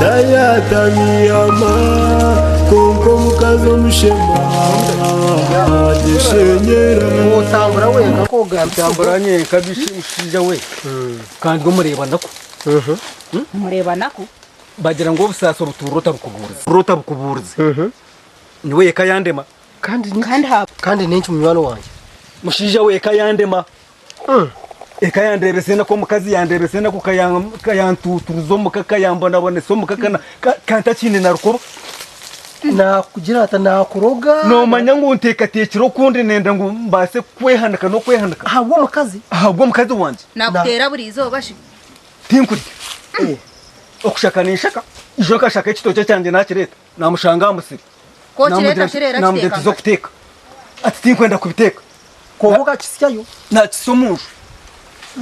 Tayatamiama kwonka omukazi omushema agyeshenyera. Otambura wenka kogambisa ogu. Otambura nyenka biki mushaija we kandi omureeba naku. Omureeba naku. Bagira ngu obusaasi obutuurira otabukubuuriza. Otabukubuuriza. Nyowe eka yandema. Kandi niki? Kandi n'enki munywani wangye? Mushaija we eka yandema. Eka yandeebesa enaku, omukazi yandeebesa enaku, ka yantuuturuza omuka, ka yambonabonesa omuka, ka ntakiine na rukoba. Naakugira ata? Naakuroga? Noomanya ngu nteekateekire okundi nenda ngu mbaase kukwehanika n'okwehanika. Ahabw'omukazi? Ahabw'omukazi wangye. Naakuteera buri izooba shi? Tinkurya. Okushaka ninshaka, ijo nkashaka ekitookye kyangye naakireeta. Naamushanga aha musiri naamugira tuze kuteeka, ati tinkwenda kubiteeka. Kwonka okakitsyayo naakitsya omu nju.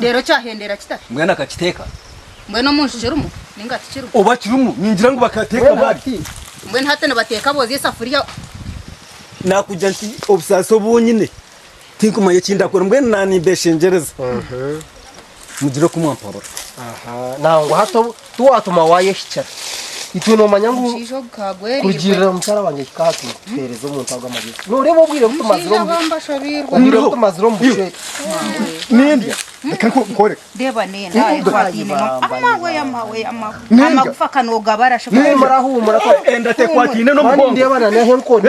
Reero kyahendera kita? Mbwenu akakiteeka. Mbwenu omu nju kirimu ninga tikirimu? Oba kirimu ningira ngu bakateeka bari. Mbwenu hati nibateeka booza esafuriya? Naakugira nti obusaasi obu nyine Tinkumanya eki ndakora mbwenu naanimbeshengyereza mugire oku mwampabura. Nangwa hati obu tiwatuma waayehikira. Itwe noomanya ngu kurugirira mukyara wangye kikaatuma tuheereza omuntu ago amagezi. Nooreeba obwire obu tumazire omu obwire obu tumazire omu bushwere. Nindya? Reka nkukoreke. Nindya? Huumura, huumura. Enda tekwataine n'omugongo. Nindeeba n'aha enkoni.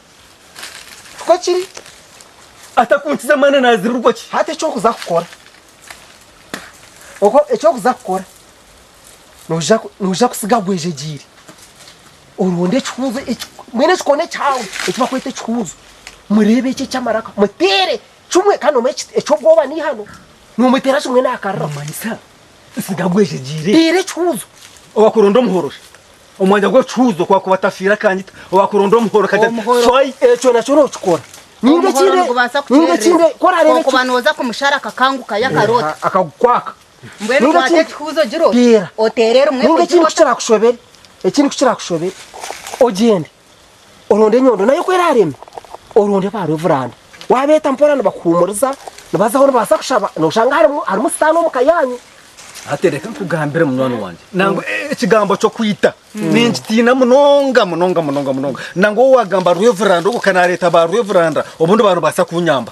Nikwo kiri. Atakunkiza amaani naazirirwa ki? Hati eki orikuza kukora, ok, eki orikuza kukora, noija noija kutsiga gwejegyeire, oronde ekihuuzo eki, mbwenu ekikooni ekihango eki barikweta ekihuuzo, mureebe eki eky'amaraka, muteere kimwe kandi omanye ekiti eky'obwoba n'eihano, noomuteera kimwe naakariraho. Noomanyisa nsiga gwejegyeire? Teera ekihuuzo. Owakuronda omuhorore. Omwanya gw'ekihuuzo ku akuba atafiire akanyita owakuronda omuhoro kati shwai ekyo nakyo nokikora ninga ekindi ninga ekindi ku orareeba okuba noza kumushara akakanguka yakaroota eh, akagukwaka mbwenu kwata ekihuuzo giro oteere rimwe ninga ekindi ku kirakushobere ekindi ku kirakushobere ogyende oronde enyondo nayo ku erareme oronde ebaara ovuranda wabeeta mpora nibakuhuumuriza nibazaho nibabaasa kushaba noshanga harimu harimu sitaane omu ka yanyu Hati reka nkugambire munywani wangye nangwa e- e- ekigambo ky'okwita ninkitiina munonga munonga munonga munonga nangwa owaagamba rweveranda ogwo ka naareeta ba rweveranda obundi baarubaasa kunyamba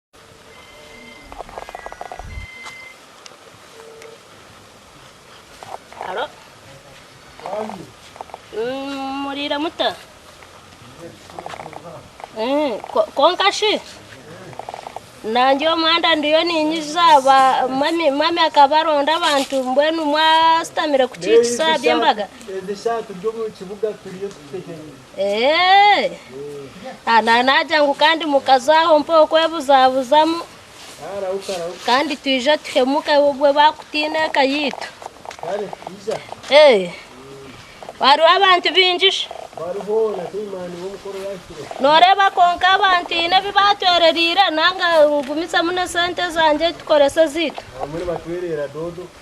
Haro? Mm, Muriire muta? Eh, ko- Konka shi? Nangye omwanda ndiyo ninyiza ba mami mami akaba aronda abantu mbwenu mwasitamire kukiikisa by'embaga. Ebishaatu by'omu kibuga turiyo tutehereire. Naagira ngu kandi mukaza aho mpaho kwebuzabuzamu kandi twije tuhemuke obwo baakutiina eka yaitu. Hariho abantu baingi shi? Nooreeba kwonka abantu haine ebi baatwerereire nanga ngumizemu n'esente zangye tukorese ezaitu?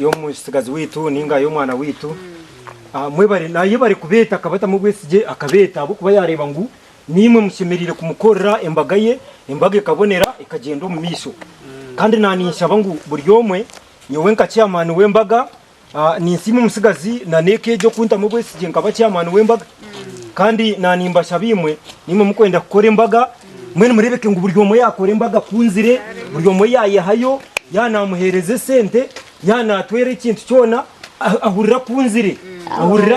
y'omutsigazi waitu ninga y'omwana waitu ah, mwebare naye bari kubeeta akabatamu obwesigye akabeeta ahabw'okuba yaareeba ngu niimwe mushemereire kumukorera embaga ye embaga ekabonera ekagyenda omu maisho kandi naaninshaba ngu buri omwe nyowe nka chairman w'embaga Ninsiima omutsigazi na n'eka egi okuntamu obwesigye nkaba chairman w'embaga kandi nanimbashaba imwe nimwe mukwenda kukora embaga mbwenu murebeke ngu buri omwe yakora embaga akunzire buri omwe yayehayo ya namuhereza esente ya natwera ekintu kyona ahurire akunzire ahurire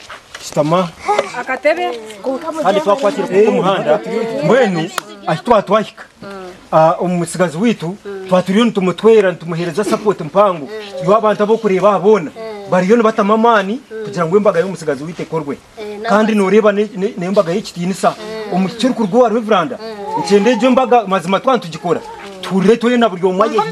shutama kandi twakwatira kubi omuhanda mbwenu ahi twaba twahika ah, omutsigazi waitu twaba turiyo nitumutwera nitumuheereza sapoti mpango iwe abantu ab'okureeba aha boona bariyo nibatamu amaani kugira ngu embaga y'omutsigazi waitu ekorwe kandi nooreeba ne- ne- n'embaga y'ekitiinisa omu kirikuruga owa reveranda nikyenda egyo embaga mazima twaba nitugikora tuhurire twena buri omwe ayehiire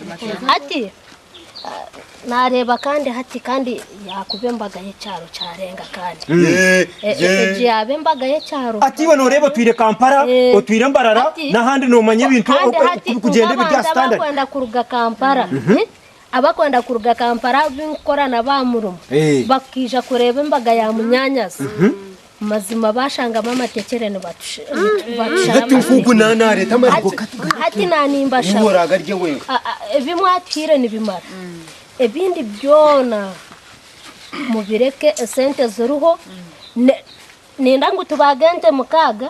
Hati naareeba kandi hati, kandi yaakuba embaga y'ekyaro kyarenga kandi egyo yaaba embaga y'ekyaro. Hati iwe nooreeba otwire Kampala, otwire Mbarara n'ahandi noomanya ebintu oku birikugyenda ebiri aha sitandadi. Hati nk'abantu abakwenda kuruga Kampala, abakwenda kuruga Kampala abu nkukora nabo aha murimo, bakaija kureeba embaga ya munyaanyazi, Mazima bashangamu amatekyere nibatusharahati na nimbashaebi mwatuhaire nibimara ebindi byona mubireke esente ziriho ninda ngu tubage ente mukaaga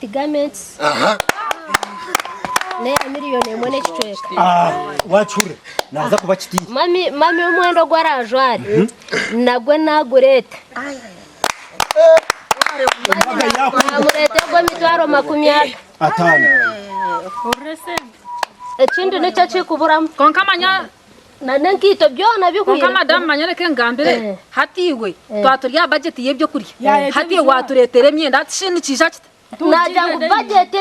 Ti gamentisi n'eya miriyoni emwe n'ekicweka. Ah, wakihurira naaza kuba kitiire Mami, mami omwenda ogu arajware mhm. nagwe nagurete embaga yakwenda namurete ogwo emitwaro makumi ataano ekindi nikyo kikuburamu konka manya n'enkaito byona bihweire. Kwonka madamu manya reka engambire hati iwe twaba turi aha bajeti y'ebyokurya hati iwe watureetera emyenda hati shi nikiija kita? Naagira ngu bajeti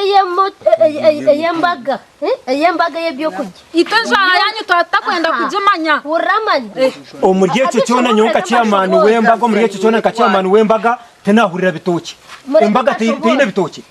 ey'embaga ey'embaga ey'ebyokurya. Itwe enjwara yaanyu twaba tutakwenda kugimanya. Hurira amani. Omuri ekyo kyona nyowe nka chairman w'embaga omuri ekyo kyona nka chairman w'embaga tinaahurira bitookye. Embaga teine bitookye?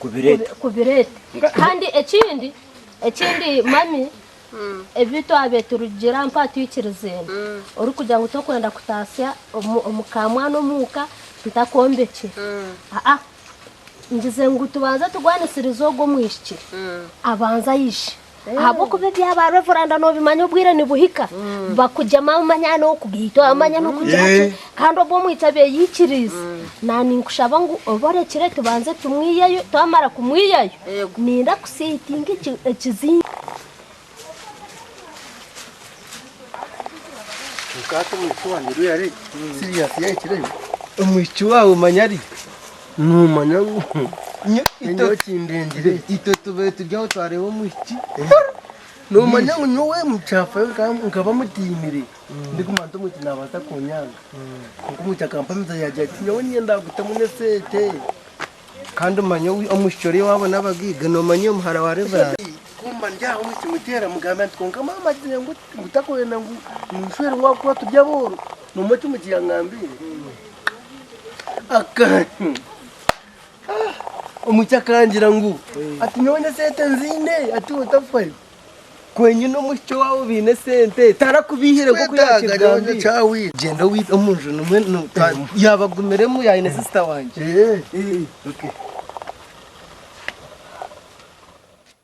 kubireeta. Kubireeta. Kandi ekindi, ekindi mami, mm. ebi twabe turugira mpa twikirizeemu mm. orikugira ngu tokwenda kutaasya omukamwana omuuka ntakombekye mm. aa ngize ngu tubanze tugwanisirize ogwo omwishiki abanze aije Ahabw'okuba ebyabaarwa evuranda noobimanya obwire nibuhika, bakugyema amanya n'okugaitwa amanya n'okugira ki. Kandi obwo omwitsi abeeikiriize, naaninkushaba ngu obe orekire tubanze tumwiyeyo, twamara kumwiyayo ninda kuseetinga ekizinga. Noomanya ngu nyowe kindengire. Itwe tubaire turi aho twareeba omwishiki. Noomanya ngu nyowe mukyafayo nkaba mutiinire ndiguma nti omwishiki naabaasa kunyanga. Kwonka omwishiki akampamiza yaagira ati, nyowe niinye ndaagutamu n'esente. Kandi omanya omwishiki ori owaabo n'abagaiga noomanya oyo muhara wa Reverand. Ku mba ndi aho omwishiki muteera mugambira nti, kwonka maama agire ngu tarikwenda ngu ninshwerwa ahabw'okuba turi abooro. Noomanya eki omwishiki yangambiire? Omwishiki akangira ngu ati nyowe n'esente nziine ati iwe tafayo kwenyu n'omwishiki owaawe obaine esente tarakubihire nk'oku yaakigambire gyenda obe omu nju nimwo yaabagumiremu yaabaire aine sisita wangye.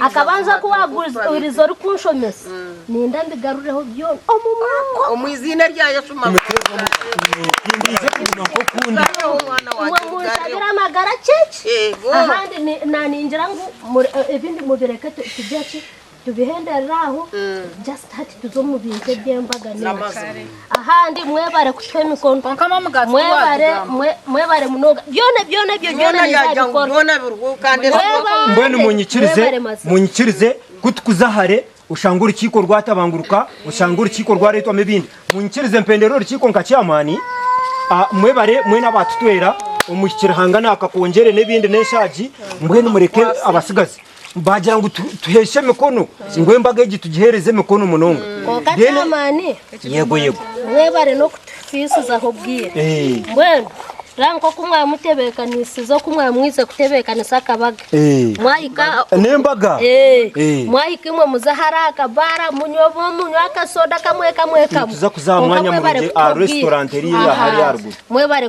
Akabanza ku waaguriza orikunshomesa, niinda mbigarureho byona omu mwaka omu iziina rya Yesu. Imwe munshabire amagara kyekye, ahandi naaningira ngu ebindi mubireke tugye ki tubihenderere aho, just hati tuze omu bintu eby'embaga. Ahandi mwebare kutuha emikono. Kwonka mwe omugaati Mwebare, tiwaatugamba. mwe- mwebare munonga. Byona, byona ebyo byona Byona yagira ngu nizabikora. byona biriho kandi Mwebare. ezo- mbwenu munyikirize Mwebare mazima. munyikirize ku tukuza hare oshange orukiiko rwatabanguruka oshange orukiiko rwareetwamu ebindi munyikirize mpendere orukiiko nka chairman ah, mwebare mwena abaatutwera omuhikire hanga naakakongyere n'ebindi n'enshaagi mbwenu mureke abatsigazi Baagira ngu tuheeshe emikono, ngu embaga egi tugiheereze emikono munonga. Kwonka kyamaani. Yego, yego. Mwebare n'okutufiisizaho obwire. Eh. Mbwenu reeba nk'oku mwaba mutebeekanisize oku mwaba mwaize kutebeekanisa akabaga. Eh. Mwahika. N'embaga. Eh. Eh. Mwahika imwe muze ahari akabaara munywe obu munywe akasoda kamwe kamwe kamwe. Nituza kuza aha mwanya murungi aha restaurant eri hariya aha ruguru. Mwebare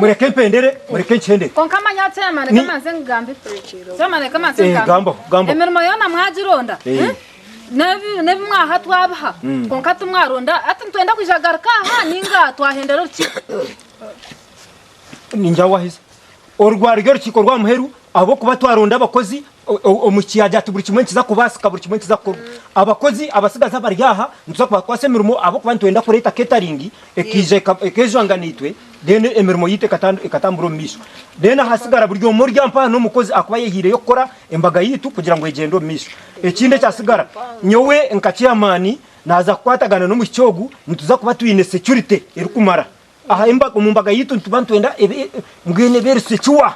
mureke mpendere mureke nkyendere konka manya ati ema reka manze nkugambe ema reka manze eh, nkugambe emirimo yoona mwagironda eh. Eh? n'ebi mwaha twabiha hmm. konka timwaronda ati nitwenda kwija garuka aha ninga twahendera orukiiko Ninjawahiza orugwaro rw'orukiiko rwa muheru ahabw'okuba twaronda abakozi omu kiyaagiya ati buri kimwe nikiza kubaasika, buri kimwe nikiza kukorwa. Abakozi abatsigazi abari aha nituza kubakwasa emirimo ahabw'okuba nitwenda kureeta keetaringi ekaija ekeejwanga naitwe then emirimo yaitu ekatambura omu maisho. Then ahatsigara buri omwe ori aha mpaha n'omukozi akuba ayehaireyo kukora embaga yaitu kugira ngu egyende omu maisho. Ekindi ekyatsigara nyowe nka chairman naaza kukwatagana n'omwishiki ogu nituza kuba twine security erikumara. Aha embaga, omu mbaga yaitu nituba nitwenda ebe, mbwenu ebe eri secuwa.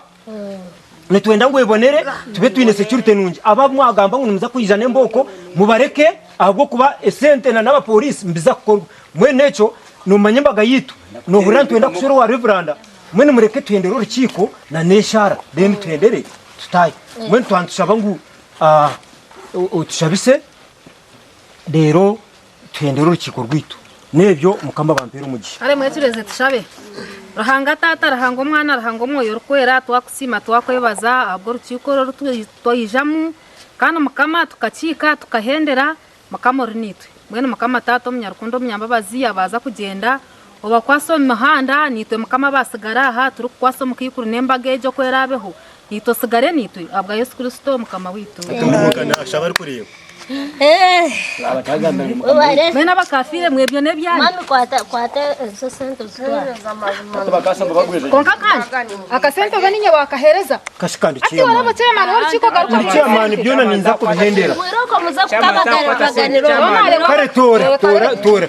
Nitwenda ngu ebonere, tube twine security nungi. Abo abu mwagamba ngu nimuza kwija n'embooko, mubareke ahabw'okuba esente na n'abapoliisi nibiza kukorwa. Mbwenu n'ekyo, nomanya embaga yaitu, nohurira nitwenda kushwera owa Reveranda, mbwenu mureke tuhendere orukiiko na n'eshaara, then tuhendere tutaahe. Mbwenu twaba nitushaba ngu, ah, o- otushabise, reero. tuhendere orukiiko rwaitu. N'ebyo, Mukama abampeere omugisha. Kare mwecureeze tushabe. Ruhanga Taata, Ruhanga Omwana, Ruhanga Omwoyo Orikwera, twakusiima twakwebaza ahabw'orukiiko oru oru twaijamu kandi Mukama tukakiika tukahendera. Mukama ori naitwe. Mbwenu Mukama Taata omunyarukundo omunyambabazi yabaaza kugyenda. Obakwatsa omu mihanda, naitwe Mukama abaatsigara aha turikukwatsa omukaikuru n'embaga egyo ku eraabeho, naitwe otsigare naitwe, ahabwa Yesu Kristo Mukama waitu. Mwena abakafiire, mwe byona ebyanyu. Kwonka kandi akasente oba niinye waakaheereza? Hati oraba chairman w'orukiiko garuka omu Chairman byona ninza kubihendera. Kare toora, toora, toora.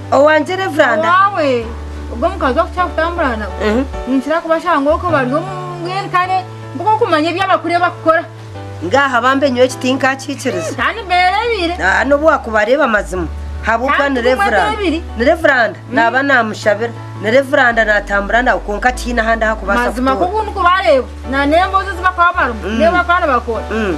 Owangye Reveranda. Owaawe ogwo omukazi okukira kutambura nawe Ehe. ninkira kubashanga ngu oko bari omu mbwenu kandi nk'okumanya ebi abakuru ebi bakukora Ngaaha bambe nyowe eki tinkakiikiriza. kandi beereebire Ah, n'obu waakubareeba mazima habw'okuba Kandi ni bimwe Reveranda. n'ebiri. Ni Reveranda naaba naamushabira. Ni Reveranda naatambura nawe kwonka tihaine ahandi aha kubaasa mazima kutuura. nk'oku ndikubareeba na n'emboozi ezi bakuba barimu n'ebi bakuba nibakora Mm.